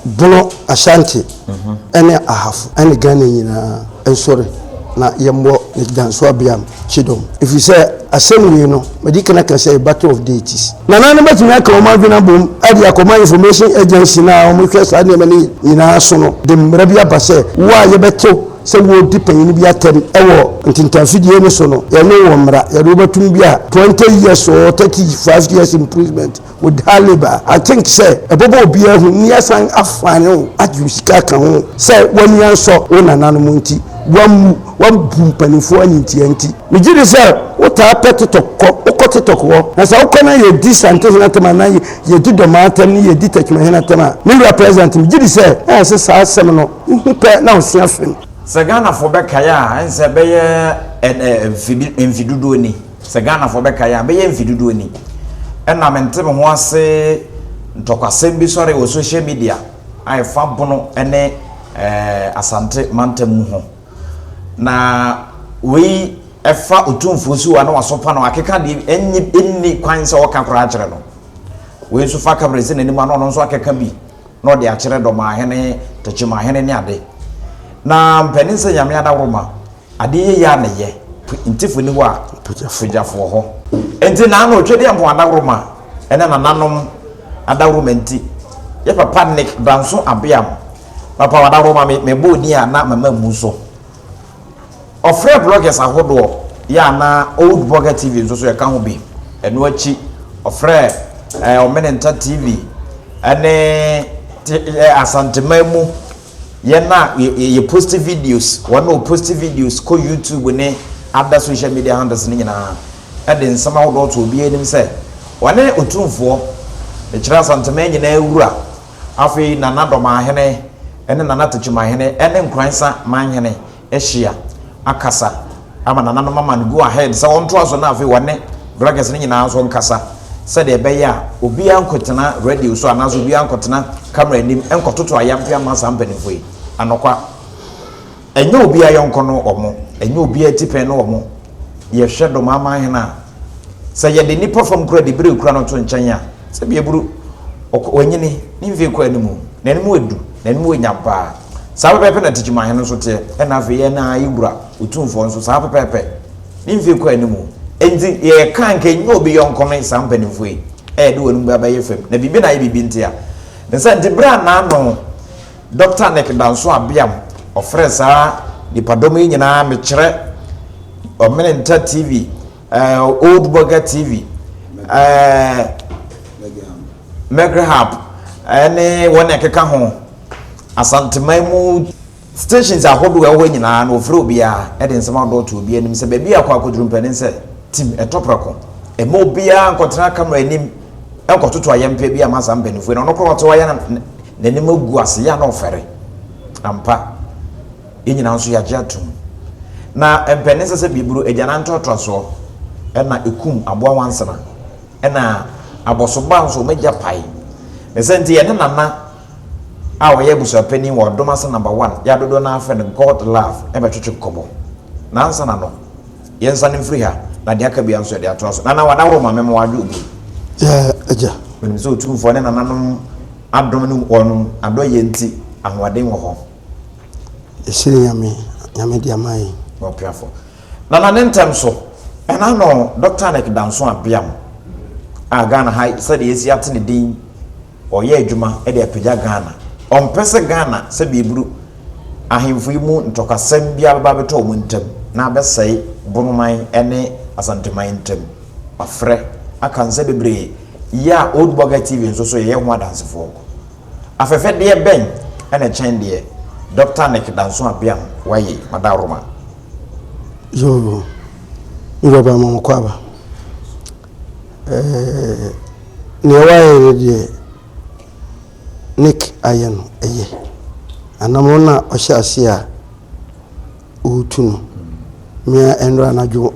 Bono, Ashanti ne Ahafo ne Ghana nyinaa nsɔre na yɛmmɔ Nigdansoabeam kyidɔm, ɛfiri sɛ asɛm wei no, madi kan aka sɛ, a battle of deities. Nana no bɛtumi aka wɔn adwene abom de akɔma Information Agency no a wɔhwɛ saa nneɛma no nyinaa so no de mmara bi aba sɛ wo a yɛbɛtew sɛ woredi panyin bi atɛm wɔ ntintanfidie no so no, yɛne wo mmra, yɛde wo bɛto mu bi a, 20 years or 35 years imprisonment. Wo Talib a, I think sɛ ɛbɛbɔ obiara hu na yɛasan afan wo agye wo sika aka ho sɛ w'ani ansɔ wo nananom nti, woammu wɔn bu mpanimfoɔ animtiaa nti. Megye di sɛ wotaa pɛ Titɔk kɔ, wokɔ Titɔk hɔ na sɛ wokɔ na yɛdi Sante hene atɛm anaa yɛdi Dɔmaa atɛm ne yɛdi Tɛkyuma hene atɛm a, me wura President, megye di sɛ na yɛse saa asɛm no wohu pɛ na wosua film. Sɛ Ghanafoɔ bɛkae a, ɛnsɛ bɛyɛ mfe dodoɔ ni. Sɛ Ghanafoɔ bɛkae a, bɛyɛ mfe dodoɔ ni na mente me ho ase ntɔkwasɛm bi sɔree wɔ social media a ɛfa Bono ne Asante mantam mu ho. Na wei fa Otumfoɔ Suwa na wasopa no akeka deɛ bi, ɛnye ɛnni kwan sɛ ɔka koraa kyerɛ no. Wei nso fa Kamara si n'anim a na ɔno nso akeka bi na ɔde akyerɛ Dɔmahene, Tokyemahene ne ade. Na mpanin sɛ Nyame Adaworoma. Ade yiye a na ɛyɛ. Ntefo nni hɔ a, pogyafo wɔ hɔ. Enti na ano Twɛdeɛ Mpɔn Adaworoma ne nananom adaworoma nti, yɛ papa Nick Danso Abeam, papa wɔ adaworoma, me me bɔɔ din a na mama mmu so. Ɔfrɛɛ bloggers ahodoɔ, yɛ a na Old Blogger TV nso so yɛka ho bi. Ɛno akyi, ɔfrɛɛ eh, Ɔmenenta TV ne te eh, Asanteman mu. Yɛn a yɛ posti videos, wɔn a wɔposti videos kɔ YouTube ne other social media handles no nyinaa de nsɛm ahodoɔ to obiara anim sɛ wɔne Otumfoɔ, mekyerɛ Asanteman nyinaa Wura, afei Nana Dɔmahene ne Nana Tekyemahene ne Nkoransa Manhene ahyia akasa ama nananom ama no go ahead sɛ wɔntoa so na afei wɔne Vloggers no nyinaa nso nkasa sɛdeɛ ɛbɛyɛ a obiara nkɔtena radio so anaasɛ obiara nkɔtena camera anim nkɔtoto ayampe ama saa mpanimfoɔ yi. Anokwa, ɛnyɛ obiara yɔnko ne wɔn, ɛnyɛ obiara atipɛn ne wɔn. Yɛhwɛ Domaaman hene a, sɛ yɛde nnipa fam koraa de bere kura no to nkyɛn a, sɛdeɛ aburo, ɔkɔ, wanyini, ne mfeɛ kɔ anim, n'anim adu, n'anim wɔ nyam paa. Saa pɛpɛɛpɛ na Techimanhene nso teɛ, ɛna afei yɛn ara yɛn Wura Otumfoɔ nso, saa pɛpɛɛpɛ. Ne mfie kɔ anim o. Enti, yɛreka a, nka ɛnyɛ obi yɔnko ne saa mpanimfoɔ yi, a yɛde wɔn mu abɛyɛ fam, na biribi na ayɛ biribi ntia. Ne saa nti, berɛ a n'ano Dɔkta Nick Danso Abeam, ɔfrɛɛ saa nnipadɔm yi nyinaa, mekyerɛ, Ɔmene Nta TV, Eh, Old Burger TV, eh, Megrahab, ɛne eh, wɔn ɛkeka ho asanteman mu stations ahodoɔ ɛwɔ nyinaa na ofiri obiara ɛde nsɛm ahodoɔ to obiara anim sɛ baabi akɔ akɔduru mpɛne sɛ tim ɛtɔ prɛko ɛma obiara nkɔtena kamera anim ɛnkɔtoto ayɛmpɛ bi ama saa mpanimfoɔ na ɔno korɔ ɔte hɔ ayɛ n'anim agu ase yɛ na ɔfɛre ampa Yɛn nyinaa nso yɛagye atom. Na ɛmpɛ ne nsa sɛ biburo, agyanan ntoatoasoɔ, ɛna ɛkum aboa nwansena, ɛna abɔsobaa nso wɔn agya pae. Ne sɛ nti yɛne Nana a ɔyɛ abusuapanin wɔ Adom ase Number One, yɛ a dodoɔ no ara frɛ no God Love, ɛbɛtwetwe nkɔmmɔ. Na ansa na no, yɛnsane mfiri ha, na deɛ aka biara nso yɛde atoa so. Nana, w'adaworo ma me ma w'adwo obu yi. Yeah, agya. Menim sɛ Otumfoɔ ne Nananom adom ne wɔn adɔeɛ nti, ahoɔden wɔ hɔ. Esiri Nyame, Nyame de ama yɛn. Ɔpiafo. Nana ne ntɛm so, ɛna no Doctor Nick Danso Abeam a Ghana ha sɛdeɛ yɛasi ate ne din, ɔyɛ adwuma de apagya Ghana. Ɔmpɛ sɛ Ghana sɛdeɛ ɛburu ahemfo yi mu ntɔkwasɛm biara bɛba abɛtɔ wɔn ntam na abɛsɛe Bonoman ne Asanteman ntam. Wafrɛ, aka nsɛm bebree, yɛ a Old Boger TV nso so yɛyɛ ho adansefoɔ. Afɛfɛdeɛ bɛn na ɛkyɛn deɛ Dɔkta Nick Danso-Abiang waye Madaworoma? Yoo, me wura baa Mɔmɔkɔ aba. Ɛɛ, nea wayɛ no deɛ Nick ayɛ no ɛyɛ. Anamɔ no a ɔhyɛ aseɛ a ɔretu no, mmea nnora anadwo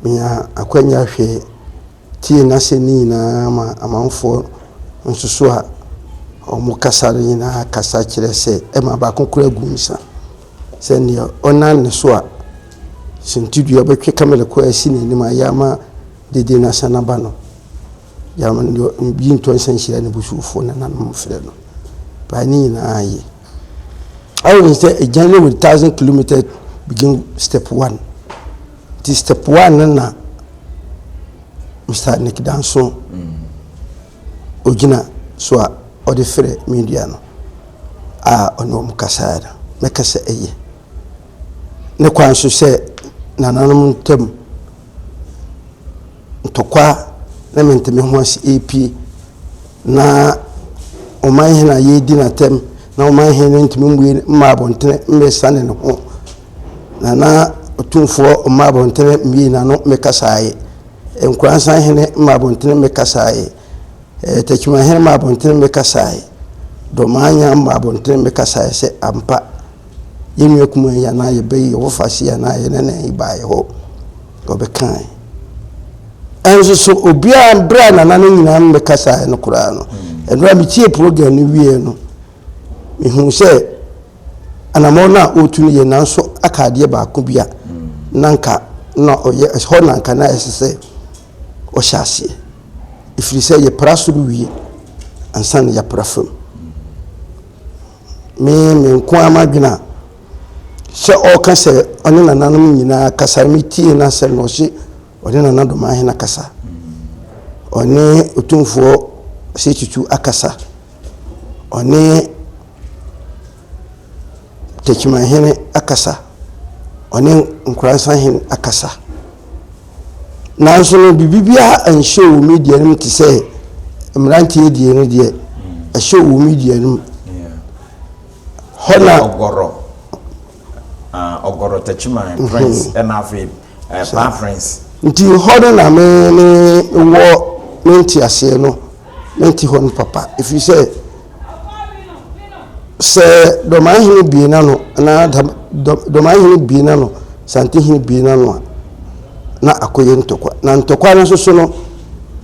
menya akwanya hwɛ. Tie n'asɛm no nyinaa ma amanfoɔ nsoso a wɔkasa no nyinaa kasa kyerɛ sɛ ɛma baako koraa gu nsa sɛ neɛ ɔnam ne so a suntidua bɛtwe kamele kɔ asi n'anim a yɛ ama dede no asan aba no yɛ ama no deɛ ɔgye ntɔ nsa nhyira ne busuufoɔ nananom frɛ no paa ne nyinaa ye. How is the a journey with thousand kilometres begin step one nti step one no na Mr. Nick Danso ogyina so a ɔde frɛ media no a ɔne wɔn kasaeɛ no mɛka sɛ ɛyɛ ne kwan so sɛ nananom ntam Ntɔkwa ne menteme ho ase repue, na ɔman hene a yɛredi no atɛm na ɔman hene no ntumi mmue mmaa abɔntene mmɛsiane ne ho, na na ɔtumfoɔ mmaa abɔntene mmue n'ano mmɛkasaeɛ. Nkoransan hene mmaa abɔntene mmɛkasaeɛ. Eh, Takyima hene mmaa abɔntene mmɛkasaeɛ. Dɔmaanya mmaa abɔntene mmɛkasaeɛ sɛ ampa yɛn nua kumaa yi anaa yɛbɛ yi yɛwɔ fase anaa yɛne ne baeɛ hɔ. Wɔbɛkae. Ɛnso so obiara bere a nana no nyinaa no bɛkasaeɛ no koraa no, ɛberɛ a metie program no wieɛ no, mehuu sɛ anammɔn no a ɔretu no yɛ nanso aka adeɛ baako bi a na nka na ɔyɛ hɔ na nka na ɛsɛ sɛ ɔhyɛ aseɛ ɛfiri sɛ yɛpra soro wie ansa na yɛapra fam me me nko ara m'adwene a sɛ ɔɔka sɛ ɔne nananom nyinaa kasa no metiee n'asɛm na ɔse ɔne Nana Domahen akasa ɔne Otumfoɔ Osei Tutu akasa ɔne Takyimanhene akasa ɔne Nkoransanhene akasa nanso no biribi biara anhyɛ wɔ media no mu te sɛ mmeranteɛ deɛ no deɛ ɛhyɛ wɔ media no mu Hɔ na Ɔgɔrɔ, ah, Ɔgɔrɔ Takyiman mhm. Prince ɛna afei eh, Paa Prince. Nti hɔ no na me ne wɔ me nte aseɛ no me nte hɔ no papa ɛfiri sɛ sɛ dɔmaa hene bie na no anaa dɔmaa hene bie na no sante hene bie na no a na akɔyɛ ntɔkwa na ntɔkwa no nso so no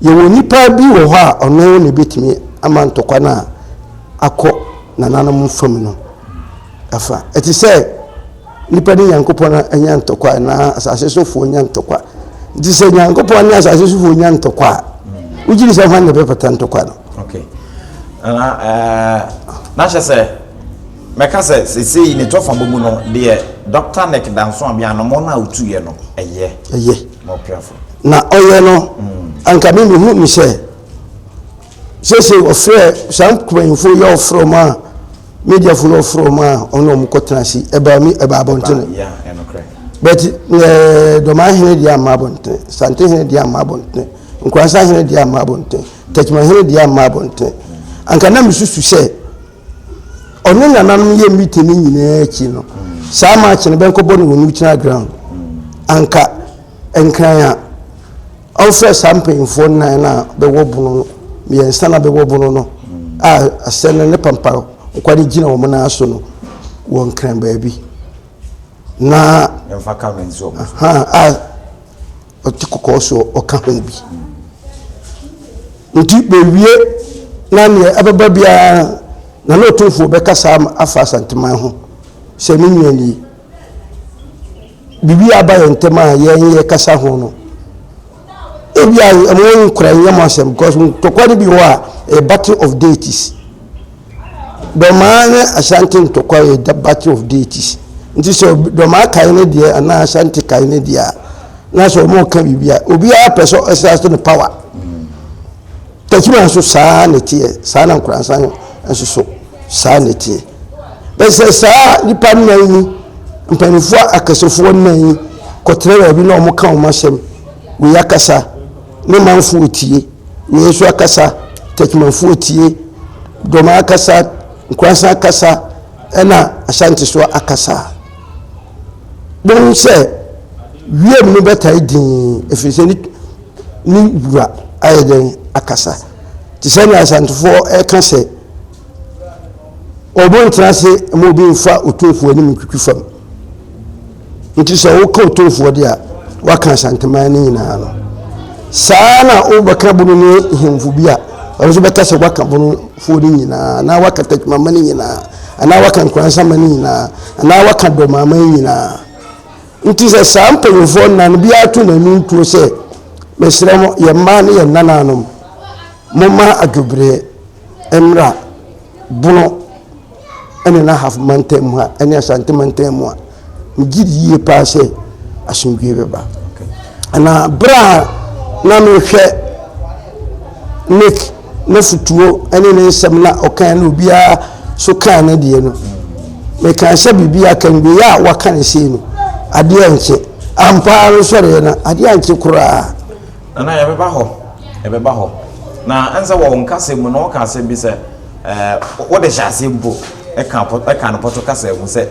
yɛwɔ nipa bi wɔ hɔ a ɔno na ɛbɛtumi ama ntɔkwa no a akɔ Nananom fam no, ɛfa. Ɛte sɛ nnipa ne Nyankopɔn anya ntɔkwa anaa asase sofoɔ nya ntɔkwa. Nti sɛ Nyankopɔn ne asase sofoɔ nya ntɔkwa a, wogye di sɛ hwan na ɛbɛpata ntɔkwa no? Okay. Na eh, na hyɛ sɛ mɛka sɛ sesei ne tɔfa bɔ mu no deɛ Dr. Nick Danso Abianomɔ no a wotuiɛ no ɛyɛ ɛyɛ na ɔpiafo na ɔyɛ no mm. anka me mehu ne sɛ Seesei wɔfrɛ saa mpanyimfo yi a wɔfrɛ wɔn a mediafo no wɔfrɛ wɔn a wɔn na wɔn kɔtena ase ɛbaa mi ɛbaa abɔnten but ɛɛ dɔmaa hene deɛ ama abɔnten sante hene deɛ ama abɔnten nkoransa hene deɛ ama abɔnten tɛkyima hene deɛ ama abɔnten anka na mesusu sɛ ɔne nananom yɛ miti no nyinaa akyi no saa maa kyene bɛnkɔbɔ no wɔn mu gyina ground anka. Nkran a ɔmfrɛ saa mpanyimfoɔ nnan no a bɛwɔ bono no, mmiɛnsa no a bɛwɔ bono no a asɛm no ne pampa nkwa no gyina wɔn nan so no wɔ Nkran baabi. Na ha a ɔte kɔkɔɔ so ɔka ho bi. Nti bɛwie na neɛ ɛbɛba biara na na ɔtumfoɔ bɛka saa afa Asanteman ho sɛ ne nua nie. Biribi aba yɛn ntam a yɛn yɛkasa ho no, ebi a ɛmo nkora nyɛ mo asɛm because ntɔkwa no bi wɔ a ɛyɛ battle of deities. Dɔmaa ne Ashanti ntɔkwa yɛ the battle of deities. Nti sɛ dɔmaa kae ne deɛ anaa Ashanti kae ne deɛ a, na sɛ ɔmo ka biribi a, obiara pɛ sɛ ɔsra so ne power. Tajima nso saa ara na ɛteɛ, saa ara na Nkoransa no nso so saa ara na ɛteɛ. Bɛyɛ sɛ saa nnipa nnan yi, mpanimfoɔ akɛsefoɔ nnan yi kɔtena baabi na wɔka wɔn asɛm. Wei akasa, ne manfoɔ tie, wei nso akasa, Tajimafoɔ tie, Dɔma akasa, Nkoransa akasa, ɛna Ashanti so akasa. Bohu sɛ wiem no bɛtae dinn ɛfiri sɛ ne wura ayɛ dɛn akasa. Te sɛ nea Asantefoɔ reka sɛ, Obo ntena ase ma obi mfa otumfoɔ anim ntwitwi fam. Nti sɛ woka otumfoɔ de a, woaka Asanteman no nyinaa no. Saa na wobɛka bono ne hemfo bi a, ɔno nso bɛka sɛ woaka bonofoɔ no nyinaa, anaa woaka takimama no nyinaa, anaa woaka nkoransama no nyinaa, anaa woaka dɔmama no nyinaa. Nti sɛ saa mpanyimfoɔ nnan no biara to n'ani ntuo sɛ, Mesrɛ mo, yɛn mmaa ne yɛn nananom, momma adwobereɛ mmra Bono ne n'ahafo mantam mu ha ne Asante mantam mu a, megye di yie paa sɛ asomdwoeɛ bɛba. Na berɛ a na mehwɛ Nick n'afotuo ne ne nsɛm na ɔkan no obiara so kaa ne deɛ no. Mekaa sɛ biribi aka no wei a waka ne sei no, adeɛ ankye. Ampa ara no sɔreɛ no, adeɛ ankye koraa. Nana, yɛbɛba hɔ, yɛbɛba hɔ. Na ɛne sɛ wɔ wo nkasa mu no woka asɛm bi sɛ ɛɛ wode hyɛ aseɛ mpo ɛka ɛka no pɔtɔ kasa mu sɛ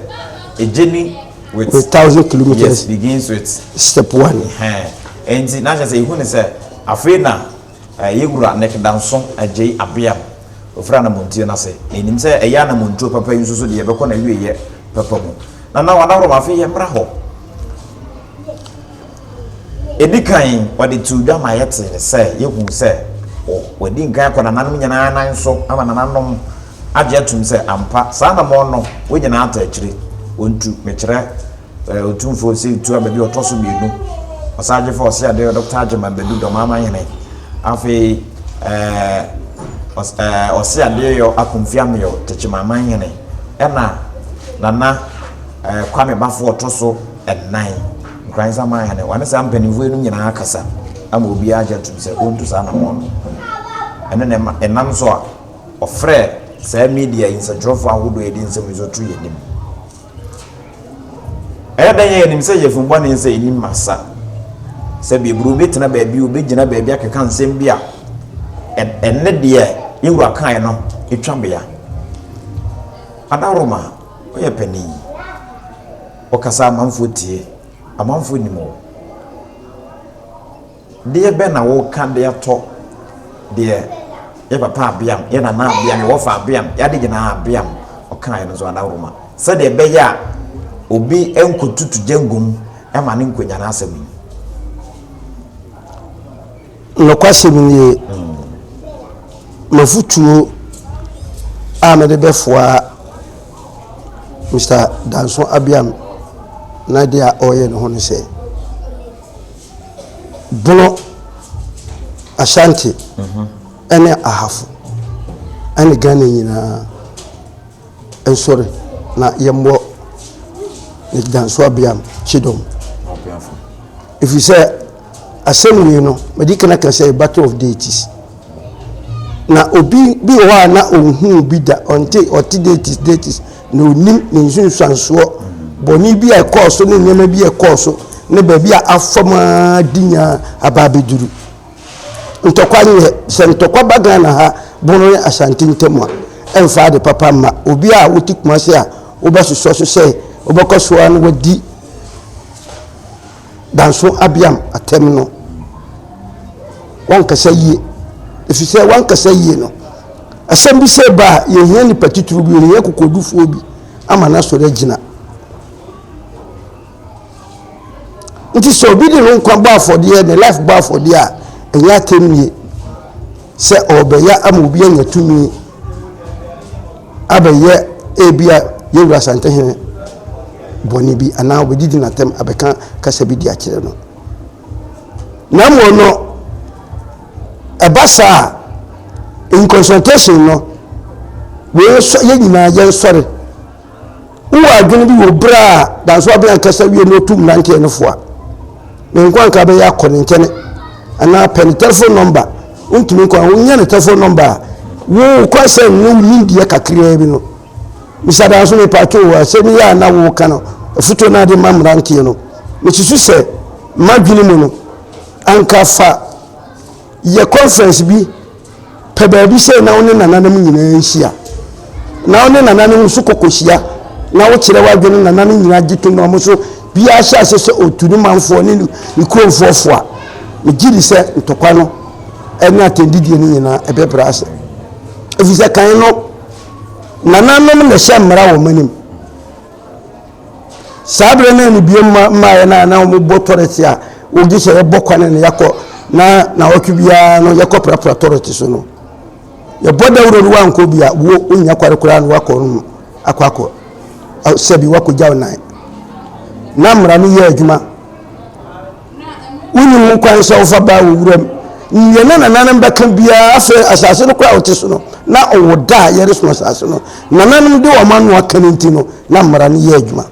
a journey with, with thousand kilometers yes, begins with step one. Ɛnti na kyerɛ sɛ ehu ne sɛ afei na Yɛn Wura Nek Danso Adjei Abeam ofiri Anamontuo no ase, na yɛnim sɛ ɛyɛ Anamontuo papa yi nso so deɛ yɛbɛkɔ n'awieɛ papa mu. Nana Wan Ahorom afei yɛmmra hɔ. Ɛdi kan ɔde too dwa ma yɛtee ne sɛ yɛhu sɛ wadi nkan akɔ nananom nyinaa nan so ama nananom agye atum sɛ ampa saa anammɔn no wɔn nyinaa ata akyire wɔntu mekyerɛ Otumfoɔ Osei tua baabi a ɔtɔ so mmienu. Ɔsan gye fa ɔse adeɛ Dɔkta Agyeman Badu Dɔmama Hene. Afei ɛɛ ɔse adeɛ yɔ Akomfi Ameɔ Tekyemaman Hene. Ɛna Nana ɛɛ Kwame Bafo ɔtɔ so ɛnan Nkran Nsaman Hene. Ɔne saa mpanimfoɔ yinom nyinaa akasa ama obiara agye atum sɛ ɔntu saa anammɔn no. Ɛno na ɛma ɛnam so a ɔfrɛɛ saa media yi nsɛntwerɛfoɔ ahodoɔ a yɛde nsɛm yi nso to yɛn anim Ɛyɛ dɛn a yɛnim sɛ yafunu bɔne nsa nnim masa? Sɛbe aburoo bɛtena baabi o, bɛgyina baabi akeka nsɛm bi a ɛne deɛ yɛn wura kaeɛ no twa bea. Adaworoma, woyɛ panin, wokasa a amanfoɔ tie, amanfoɔ nim wo. Deɛ bɛn na woreka de atɔ deɛ yɛ papa Abeam, yɛ nana Abeam, yɛ wɔfa Abeam, yɛ ade nyinaa Abeam ɔkaeɛ no so anaa worema? Sɛdeɛ ɛbɛyɛ a obi nkɔtutu gya ngu mu ma no nkɔnya n'asɛm mu. Nokwasɛm nie, m'afotuo a mede bɛfoa Mister Danso Abeam na deɛ a ɔreyɛ no ho ne sɛ, Bono, Ashanti, ne Ahafo, ne Ghana nyinaa nsɔre na yɛmmɔ ne dansoabeam kyidɔm. Ɛfiri sɛ, asɛm wei no, madi kan aka sɛ Battle of Deities. Na obi bi wɔ hɔ a na ɔnhuu bi da, ɔnte, ɔte dates, dates, na ɔnim ne nsunsuansoɔ, bɔne bi a ɛkɔɔ so ne nneɛma bi a ɛkɔɔ so, ne baabi a afam ara de nyaa aba abɛduru. Ntɔkwa nyɛ, sɛ ntɔkwa ba Ghana ha, Bono ne Ashanti ntam a, ɛmfa ade papa mma. Obi a wote Kumasi a, wobɛsosɔ so sɛ wobɛkɔ so ara na wadi Danso Abiam atɛm no, wankasa yie. Ɛfiri sɛ wankasa yie no, asɛm bi sɛ ba a, yɛhia nnipa titiriw bi, yɛhia kokodufoɔ bi ama no asɔre agyina. Nti sɛ obi de no nkwa bɔ afɔdeɛ, ne life bɔ afɔdeɛ a, ɛnyɛ atɛm nie. sɛ ɔrebɛyɛ ama obi anya tumi abɛyɛ ebia yɛn wura Asantehene bɔne bi anaa ɔbɛdidi n'atɛm abɛka kasa bi de akyerɛ no na mmom no ɛba saa in consultation no yɛn nyinaa yɛnsɔre Wowɔ adwene bi wɔ berɛ a dansoa bɛn akasa wie na ɔtu mmeranteɛ no fo a, ne nkwa nka bɛyɛ akɔ ne nkyɛne anaa pɛ ne telephone number wontumi nkɔ a wonya ne telephone number a wo kɔ sɛ ne wo nimdeɛ kakraa bi no misa danso ne pato wɔ asɛm yi a na woka no afutuo no ade ma mmeranteɛ no mesusu sɛ madwene mu no anka fa yɛ conference bi pɛ baabi sɛ na wo ne nananom nyinaa nhyia na wo ne nananom nso kɔkɔhyia na wokyerɛ w'adwene nananom nyinaa gye tom na wɔn nso biara hyɛ ase sɛ ɔtu ne manfoɔ ne ne ne kuromfoɔ fo a megye di sɛ ntɔkwa no ɛne atɛndidie no nyinaa ɛbɛbrɛ ase ɛfiri sɛ kan no nananom na ɛhyɛ mmara wɔn anim Saa berɛ no ne biem ma mmaeɛ no a na wɔbɔ tɔrɛte a wɔgye sɛ yɛbɔ kwane no yɛkɔ na nawɔtwe biara no yɛkɔ prapra tɔrɛte so no yɛbɔ dawuro no wankɔ bi a wo wonya kware koraa no wakɔ no akɔ akɔ sɛbi wakɔgya wo nan na mmara no yɛ adwuma wonnim ho kwan sɛ wofa baa wɔ wuram nea na nananom bɛka biara afei asase no koraa wote so no na ɔwɔ da a yɛreso asase no nananom de wɔn ano aka no nti no na mmara no yɛ adwuma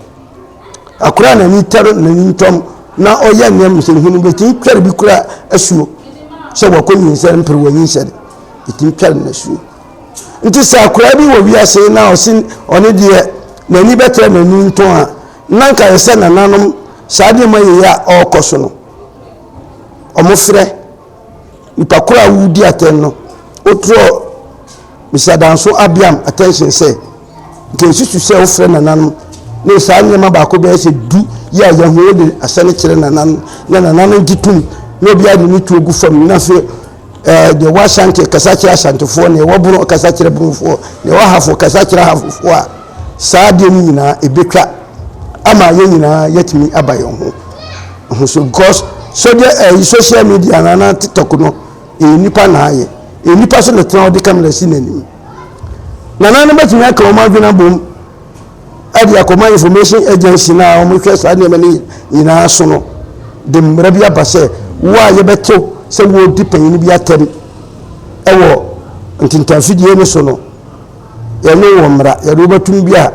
akora na ani tɛre na ani ntɔm na ɔyɛ nneɛma nsɛnhunu bɛtumi twɛre bi kora asuo sɛ wɔkɔ nyinsɛn mpere wɔ nyinsɛn ɛtumi twɛre no asuo nti sɛ akora bi wɔ wiase na ɔse ɔne deɛ n'ani bɛtɛ n'ani ntɔn a Na anka ayɛ sɛ nananom saa nneɛma yei a ɔrekɔ so no, wɔfrɛ nipa koro a wodi atɛn no, wotrɔ Mr. Danso Abiam attention sɛ, nka nsusu sɛ wofrɛ nananom ne saa nneɛma baako bɛyɛ sɛ du yi a yɛn ho yɛ den asɛne kyerɛ nananom na nananom gye tom na obiara de ne tuo gu fam na afei Ɛɛ, deɛ ɔwɔ Ashanti kasa kyerɛ Ashantifoɔ, deɛ ɔwɔ Bono kasa kyerɛ Bonofoɔ, deɛ ɔwɔ Ahafo kasa kyerɛ Ahafofoɔ a, saa adeɛ no nyinaa ɛbɛtwa ama yɛn nyinaa yɛatumi aba yɛn ho ho so because sɛdeɛ ɛyi social media no anaa tiktok no ɛyɛ nipa na ayɛ ɛyɛ nipa so na tena ɔde kamera si n'anim nana no bɛtumi aka wɔn adwene abom de akɔma information agency no a wɔhwɛ saa nneɛma no nyinaa so no de mmara bi aba sɛ wo a yɛbɛto sɛ wɔredi panyin bi atɛm wɔ ntintanfidie no so no yɛne wɔ mmara yɛde wobɛtum bi a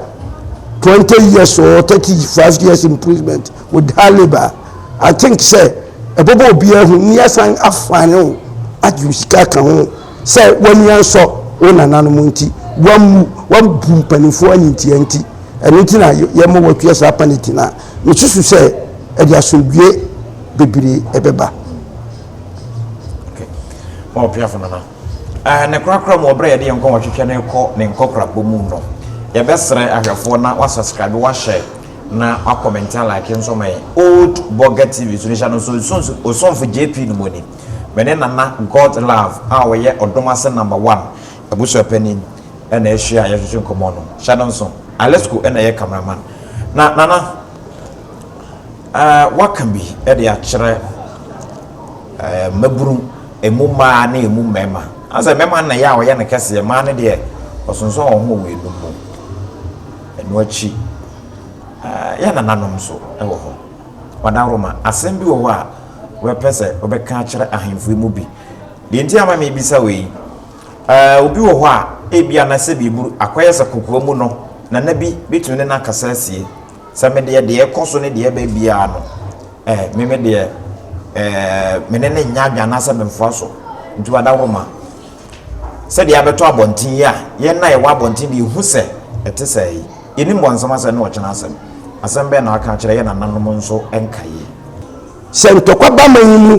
20 years or 35 years imprisonment with hard labor i think sɛ ɛbɛbɔ obiara ho ni asan afane ho agye sika ka ho Sɛ w'ani ansɔ wo nananom nti, woammu, woambu mpanimfoɔ animtia nti, ɛno nti na yɛma woatua saa paniti no a, mesusu sɛ ɛde asomdwoeɛ bebree ɛbɛba. Okay. Ɔpiafo nana. Uh, ne korakora mu ɔbrɛ yɛde yɛn nkɔn wɔtwetwɛ no kɔ ne nkɔkorabɔ mu no yɛbɛsrɛ ahwɛfoɔ na wasubscribe wahyɛ na wakɔmɛnti alike nso ma yɛn old burger tv so no hyɛ no nso osomfo jp no mu ni Me ne Nana God Love a ɔyɛ Ɔdom Ase Number One abusuapanin na ahyia a yɛretwetwe nkɔmmɔ no. Hyɛ no nso. Alesco na ɛyɛ cameraman. Na Nana, woaka bi de akyerɛ mmabunu, ɛmu mmaa ne ɛmu mmarima. Ana sɛ mmarima no na ɛyɛ a wɔyɛ no kɛseɛ, mmaa no deɛ wɔsonsɔn wɔn ho wɔ wɔn anom mu. Ɛno akyi, yɛn nananom nso wɔ hɔ. Madaworo ma, asɛm bi wɔ hɔ a Wobɛpɛ sɛ wobɛka akyerɛ ahemfo yi mu bi? Deɛ enti a ama merebisa wo yi, eh, obi wɔ hɔ a ebia na sɛ biriburu akɔyɛ sɛ kokoa mu no, na nna bi bɛtumi ne no akasa asie. Sɛ me deɛ, deɛ ɛkɔ so ne deɛ ɛba biara no, eh, me me deɛ, eh, me ne no nyɛ adwene anaasɛ memfoa so. Nti wadawoma, sɛdeɛ abɛtɔ abɔnten yi a, yɛn na yɛwɔ abɔnten de yɛhu sɛ ɛte sɛ yi. Yɛnim bɔnsam asɛm ne ɔkyena asɛm. Asɛm bɛn na waka akyerɛ yɛn nananom nso nkaeɛ? sɛ ntɔkwa ba man yi mu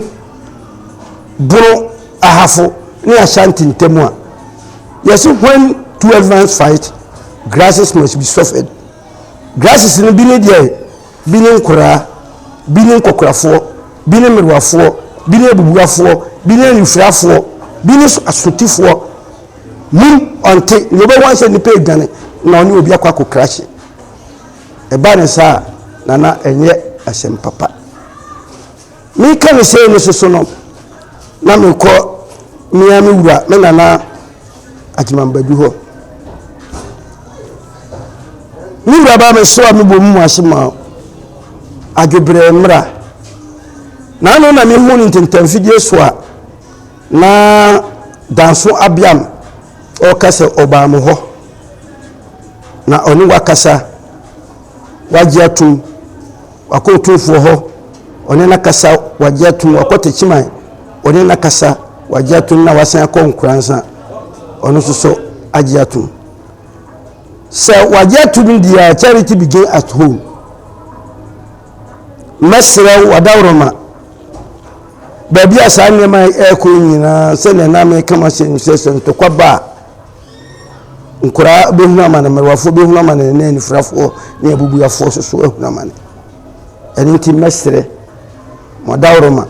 boro Ahafo ne Ashanti ntam a, yɛse when two elephants fight, grasses must be suffered. Grasses no bi ne deɛ, bi ne nkoraa, bi ne nkɔkorafoɔ, bi ne mmerewafoɔ, bi ne abubuafoɔ, bi ne anifirafoɔ, bi ne asotifoɔ. Mum ɔnte, nea ɔbɛhu ahyɛ nnipa adwane na ɔne obi akɔ akɔkrahye. Ɛba no saa a, na na ɛnyɛ asɛm papa. Mereka no sei no soso no, na mekɔ me ara me wura, me nana Agyeman Badu hɔ. Me wura baa me so a mebɔ mu ase ma adwobrɛ mmra. Na ano na mehu ne ntentamfidie so a na Danso Abiam ɔreka sɛ ɔbaa mo hɔ. Na ɔne wakasa, wagye atum, wakɔ otumfoɔ hɔ, ɔne nakasa, wagye atum, wakɔ tekyiman, ɔne nakasa, wagye atum, na wasan akɔ nkoransa, ɔno nso so agye atum. Sɛ wagye atum deɛ a, charity begin at home. Mɛsrɛ wo, wadaworoma, baabi a saa nneɛma ɛrekɔ nyinaa, sɛdeɛ na meka mahyɛ no sɛ sɛ ntɔkwa ba a, Nkoraa bɛhunu amane, mmerewafoɔ bɛhunu amane, ne anifirafoɔ ne abubuafoɔ nso so ahunu amane. Ɛno nti mɛsrɛ mo adaworoma,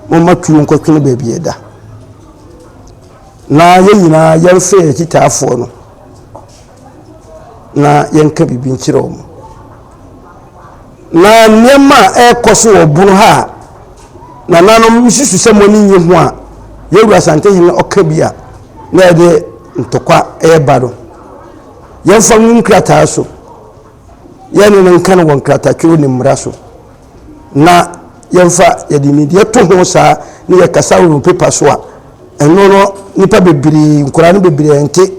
momma tuo nkɔtwene baabi a ɛda, na yɛn nyinaa yɛmfrɛ yɛn akyitaafoɔ no. na yɛnka biribi nkyerɛ wɔn. Na nneɛma a ɛrekɔ so wɔ ɔbon ha a nananom susu sɛ mo ani nye ho a yɛwura Asantehene ɔka bi a na yɛde ntɔkwa ɛreba no. Yɛmfa ngu nkrataa so. Yɛne no nka no wɔ nkratatwerɛ ne mmara so. Na yɛmfa yɛde nimdeɛ to ho saa ne yɛkasa wɔ pepa so a ɛno no nnipa bebree nkoraa no bebree nte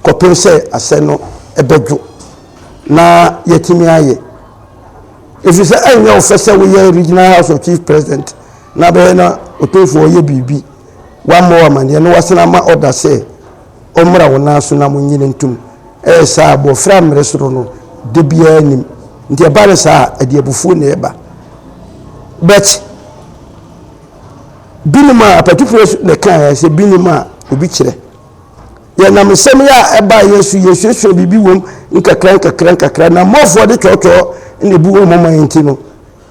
kɔpem sɛ asɛn no bɛdwo na yɛatumi ayɛ. Ɛfiri sɛ ɛnyɛ wo fɛ sɛ woyɛ Regional House of Chief President na bɛyɛ na ɔtomfoɔ ɔyɛ biribi, wammɔ wo amaneɛ na wasan ama ɔda sɛ ɔmmra wo nan so na monyini ntom. Ɛyɛ saa a, bɔfrɛ a mmere soro no da biara nnim. Nti ɛba no saa a, ɛde abufuo na ɛba. But binom a, apatufoɔ na ɛkaeɛ sɛ binom a obi kyerɛ. Yɛnam nsɛm yi a ɛbaa yɛn so yɛsuasua biribi wom nkakra nkakra nkakra na mmɔfoɔ de twɔtwɔɔ na ebu wɔn moma yɛn nti no,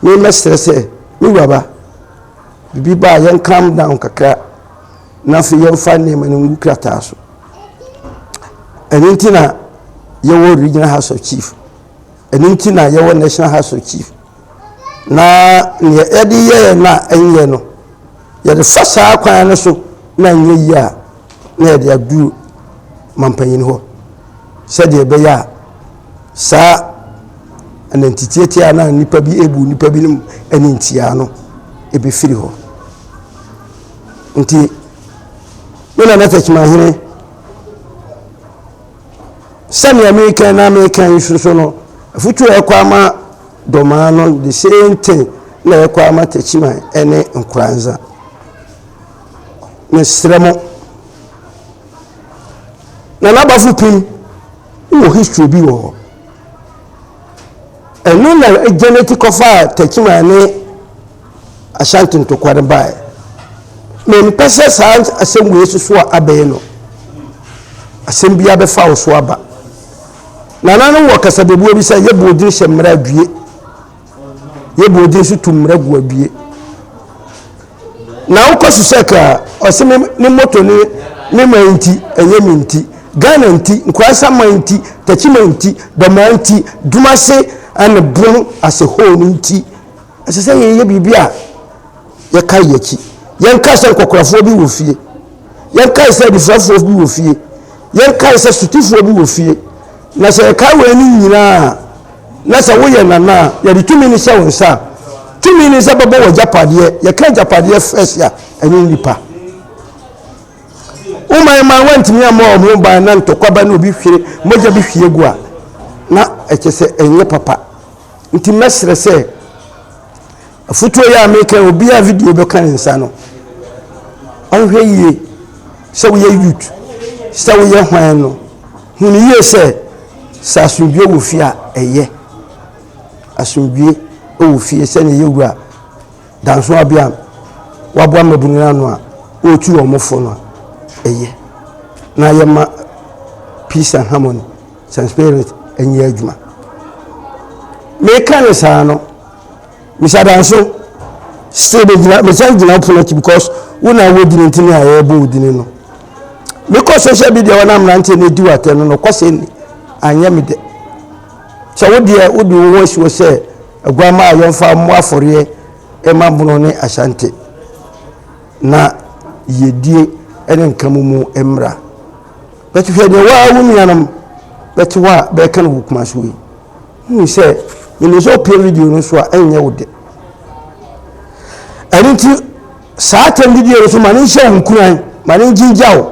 me mɛsrɛ sɛ, me wuraba, biribi baa yɛn calm down kakra na afei yɛmfa nneɛma no ngu krataa so. Ɛno nti na yɛwɔ Regional House of Chief. Ɛno nti na yɛwɔ National House of Chief. Na neɛ yɛde yɛɛ no a ɛnyɛ no, yɛde fa saa kwan no so na ɛnyɛ yie a, na yɛde aduru mampanin hɔ sɛdeɛ ɛbɛyɛ a saa anantitiatia a na nnipa bi ebu nnipa binom ani ntia no ɛbɛfiri hɔ. Nti, me nana Takyimanhene Sɛnea mekan na mekan yi so no, afutuo a ɛkɔ ama Domaa no, the same thing na ɛkɔ ama Takyiman ne Nkoranza. Mesrɛ mo. Na n'abafo pim wɔ history bi wɔ hɔ. Ɛno na ɛgyɛnɛti kɔfaa Takyiman ne Ashanti ntokwa no bae. Mempɛ sɛ saa asɛm wei so so a abɛyɛ no, asɛm bi abɛfa wo so aba. Nananom wɔ kasabebuo bi sɛ yɛbɔ odin hyɛ mmara adwie, yɛbɔ odin so tu mmara gu adwie. Na wokɔ so sɛ ka ɔse me ne moto ne me ma nti, ɛnyɛ me nti, Ghana nti, Nkurasa ma nti, Takyima nti, Dɔmaa nti, Dumase and Brum as a whole nti. Ɛsɛ sɛ yɛyɛ biribi a yɛkae yɛn akyi. Yɛnkae sɛ nkɔkorafoɔ bi wɔ fie. Yɛnkae sɛ anifirafoɔ bi wɔ fie. Yɛnkae sɛ sotifoɔ bi wɔ fie. Na sɛ yɛkae wɔn ani nyinaa a, na sɛ woyɛ nana a, yɛde tumi no hyɛ wo nsa a, tumi no sɛ bɛbɔ wɔ agyapadeɛ. Yɛka agyapadeɛ fɛs a, ɛnyɛ nnipa. Woma yɛn maa wɔntumi ammɔ wɔn ho ban na ntɔkwa ba na obi hwere mogya bi hwie gu a, na ɛkyɛ sɛ ɛnyɛ papa. Nti mɛsrɛ sɛ afutuo yi a meka yi obiara a video bɛka ne nsa no ɔnhwɛ yie sɛ woyɛ youth sɛ woyɛ hwan no hunu yie sɛ sɛ asomdwoe wɔ fie a ɛyɛ asomdwoe wɔ fie sɛ ne yɛ wura danso abea waboa mmabunu no ano a ɔretu wɔn fo no a ɛyɛ na yɛma peace and harmony Sɛ spirit nyɛ adwuma. Meka no saa no, misa danso. Still megyina mesan gyina wo pono akyi because wo na wɔ dini ntini a yɛrebɔ wo dini no. Mekɔ social media wɔn mmeranteɛ na edi watɛ no na ɔkɔ sɛ ni anyɛ me dɛ. Sɛ wo deɛ wode wo ho asi hɔ sɛ aguama a yɛmfa mmɔ afɔreɛ ɛma bono ne ahyante na yɛdie ne nkamu mu mmra. But hwɛ nea waa wo nuanom bɛte hɔ a bɛreka no wɔ Kumasi hɔ yi. Wohu sɛ menim sɛ wopie video no so a ɛnyɛ wo dɛ. Ɛno nti saa atɛm didie no so ma ne nhyɛ wo nkuran ma ne ngyingya wo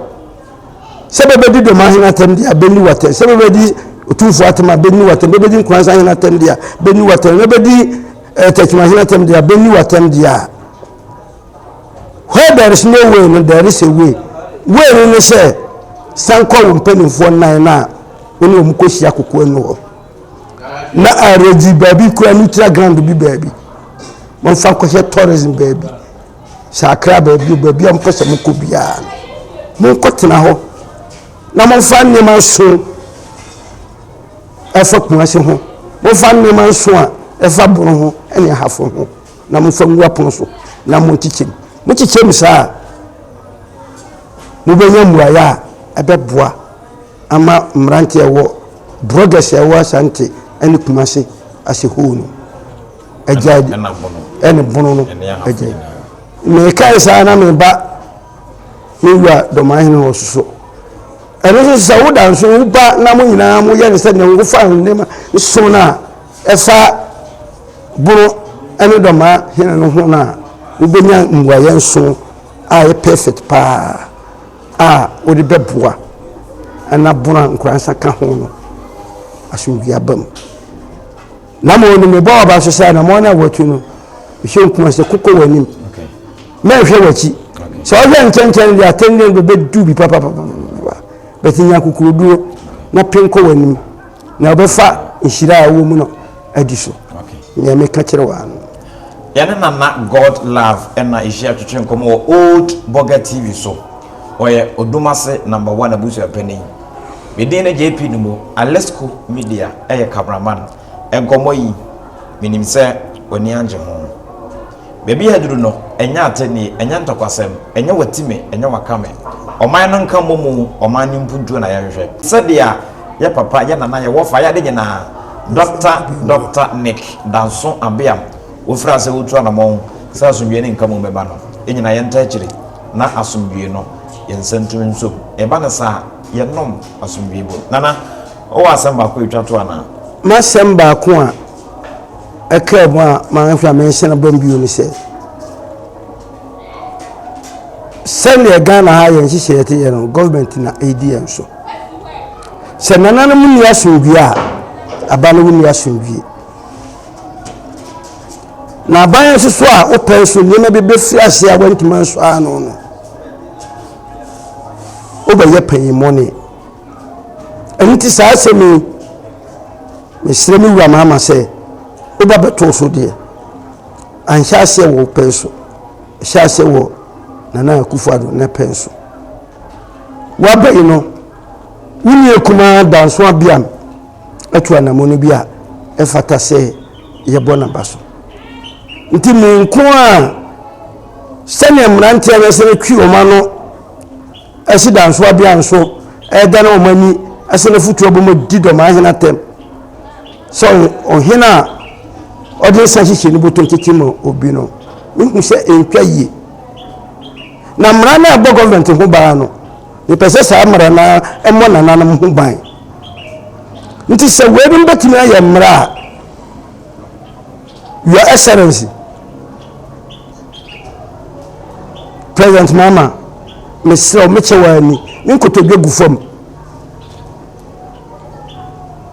sɛ bɛbɛdi dɔm ahene atɛm deɛ abɛni watɛm sɛ bɛbɛdi otumfo atɛm abɛni watɛm bɛbɛdi nkuransa ahene atɛm deɛ abɛni watɛm bɛbɛdi ɛtɛkyima eh, ahene atɛm deɛ abɛni watɛm deɛ a Where there is no way no, there is a way. Way no ne sɛ, san kɔ wo mpanimfoɔ nnan no a wo ne wɔn kɔhyia kokoa no hɔ. Na aredi baabi kura neutral ground bi baabi. Wɔmfa nkɔhyɛ tourism baabi. Sɛ akra baabi o baabi a mopɛ sɛ mokɔ biara no. Monkɔtena hɔ na momfa nneɛma nso ɛfa Kumasi ho. Momfa nneɛma nso a ɛfa Bono ho ne Ahafo ho. na momfa ngu apono so na monkyekyɛ mu. Mokyekyɛ mu saa a, mobɛnya mmuaeɛ a ɛbɛboa ama mmeranteɛ a ɛwɔ bloggers a ɛwɔ Asante ne Kumase ase hoo no agyae ɛne bono no agyae. Mekae saa na meba me wura dɔmahene hɔ soso ɛno nso sɛ woda nso woba na mo nyinaa moyɛ ne sɛdeɛ wofa nneɛma nso no a Fa Bono ne Dɔmaa Hene no ho no a, wobenya mmuaeɛ nson a ɛyɛ perfect paa a wode bɛboa na Bono a Nkoransa ka ho no asomdwie aba mu. Na mmom no, mebɔ w'aba nso sɛ anamɔn no a watu no, hwɛ nkumaa sɛ kokɔ w'anim, mɛnhwɛ w'akyi. Sɛ wohwɛ nkyɛnkyɛn no deɛ atɛndeɛ no bɛbɛdu bi papapapa, but nya kokoroduro na pen kɔ w'anim. Na ɔbɛfa nhyira a ɛwɔ mu no adi so. Nea meka kyerɛ wo no. Yɛne Nana God Love ɛna ɛhyia twetwe nkɔmmɔ wɔ Old Burger TV so. Ɔyɛ Odumase Number One Abusua Panin. Me din ne JP Numo, Alesco Media ɛyɛ camera man. Nkɔmmɔ yi, menim sɛ w'ani angye ho. Baabi a aduru no, ɛnyɛ atennie, ɛnyɛ ntɔkwasɛm, ɛnyɛ wati me, ɛnyɛ waka me. Ɔman no nka mmɔ mu, ɔman no mpuntuo na yɛhwehwɛ. Sɛdeɛ yɛ papa, yɛ nana, yɛ wɔfa, yɛ ade nyinaa. Dɔkta Dɔkta Nick Danso Abeam, wofiri ase wotu anamɔn sɛ asomdwoeɛ ne nkamu mmɛba no, yɛnyinaa yɛntaa akyire na asomdwoeɛ no yɛnsa ntumi nsom. Ɛba no saa a, yɛnnom asomdwoeɛ bom. Nana, wowɔ asɛm baako a ɛtwa toɔ anaa? M'asɛm baako a ɛkaa mu a mahwɛ a menhyɛ no bɔm bio ne sɛ sɛdeɛ ghana ha yɛn nhyehyɛeɛ te yɛ no government na ɛredi yɛn so sɛ nananom nni asomdwie a aba no wonni asomdwie na aban nso so a wopɛn so nneɛma bi bɛfiri ase a wantumi nso ano no wobɛyɛ panyinmɔne ɛno nti saa asɛm yi Mesrɛ me Wura Mahama sɛ wo ba bɛtoo so deɛ, anhyɛ aseɛ wɔ wo pɛn so, ɛhyɛɛ aseɛ wɔ Nana Akufo-Addo ne pɛn so. Woaba yi no, wo nua kumaa Danso Abiam atu anamɔne bi a ɛfata sɛ yɛbɔ n'aba so. Nti me nko ara, sɛdeɛ mmeranteɛ no sɛ twi wɔn ano Ɛsi da nso abea nso ɛɛda na wɔn ani ɛsɛ na futu abom di dɔm ahene atɛm sɛ ɔhene a ɔde nsa hyehyɛ ne bɔtɔ tete ma obi no mehu sɛ ɛntwa yie na mmara no a ɛbɔ gɔọmenti ho baa no mepɛ sɛ saa mmara no ɛmmɔ nananom ho ban nti sɛ weinom bɛtumi ayɛ mmara a your excellency President Mahama, mesrɛ wo, mekyɛ w'aa ni. Ne nkotodwe gu fam.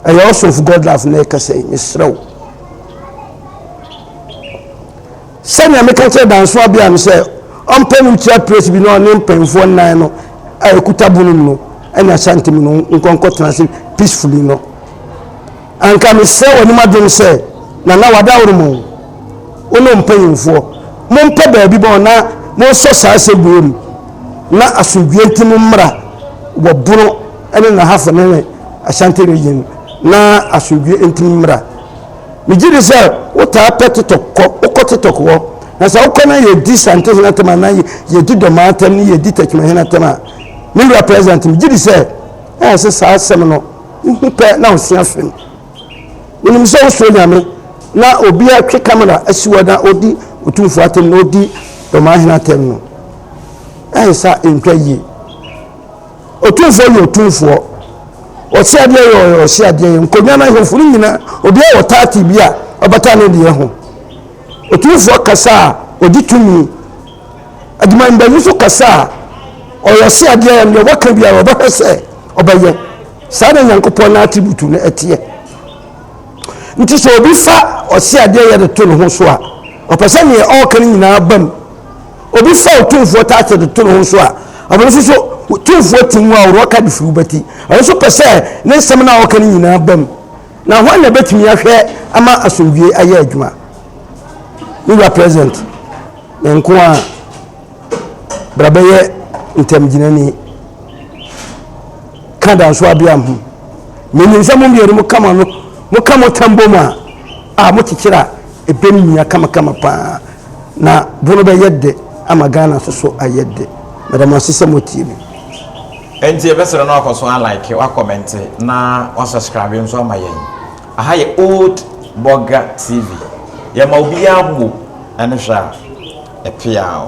Ɛyɛ House of God Love na ɛkasa yi, mesrɛ wo. Sɛnea meka kyerɛ danso abea no sɛ ɔmpɛ no wheelchair press bi na ɔne mpanyinfoɔ nnan no a ɛkuta bunum no ɛne Ashanti mu no nkɔnkɔ tena ase peacefully no. Anka mesrɛ w'anim adom sɛ, Nana wadaworo mo, wo ne wo mpanyimfoɔ, mompɛ baabi bɔ na monsɔ saa aseguoyɛ mu, na asomdwie nti mo mmra wɔ Bono ne Nahafo ne Ashanti Region na asomdwie nti mo mmra. Megye di sɛ wotaa pɛ TikTok kɔ, wokɔ TikTok hɔ, na sɛ wokɔ na yɛdi Santehene atɛm anaa yɛdi Dɔmaa atɛm ne yɛdi Takyimanhene atɛm a, me Wura President, megye di sɛ ɛyɛ sɛ saa asɛm no Wo ho pɛ na wo sua film. Wo nim sɛ wo suro Nyame na obi a twe camera asi wɔ na odi otumfo atem na odi dɔmahene atem no. Ɛyɛ sa ntwa yie. Otumfo yɛ otumfoɔ. Ɔhyɛ adeɛ yɛ ɔhyɛ adeɛ yɛ nkonnwa na ahemfo no nyinaa obi a wɔ taati bi a ɔbata ne deɛ ho. Otumfoɔ kasa a ɔgye tumi. adwumayɛbanyifo kasa a, ɔyɛ ɔseadeɛ a nea wɔka biara ɔbɛhwɛ sɛ ɔbɛyɛ. Saa na Nyankopɔn n'atributu no ɛteɛ. Nti sɛ obi fa ɔseadeɛ yɛ de to ne ho so a, ɔpɛ sɛ nea ɔreka no nyinaa ba mu. Obi fa otumfoɔ taate de to ne ho so a, ɔno nso so tumfoɔ ti nwa a ɔreka de firi wobɛti. Ɔno nso pɛ sɛ ne nsɛm no a ɔreka no nyinaa ba mu. Na hwan na ɛbɛtumi ahwɛ ama asomdwie ayɛ adwuma? Me wura president, me nko a bra bɛyɛ ntamgyinani ka danso abea ho. Menim sɛ mo mmienu mo kama no mo ka mo tam bom a a mo kyekyere a ɛbɛm mia kamakama paa na bo no bɛyɛ de ama Ghana soso ayɛ de. Meda mo ase sɛ motie me. Ɛnti yɛbɛsrɛ na wakɔ so a like, wa kɔmɛnte na wa subscribe nso ama yɛn. Aha yɛ Old Burger TV. Yɛma obiara home ɛne hwɛ a ɛpeaw.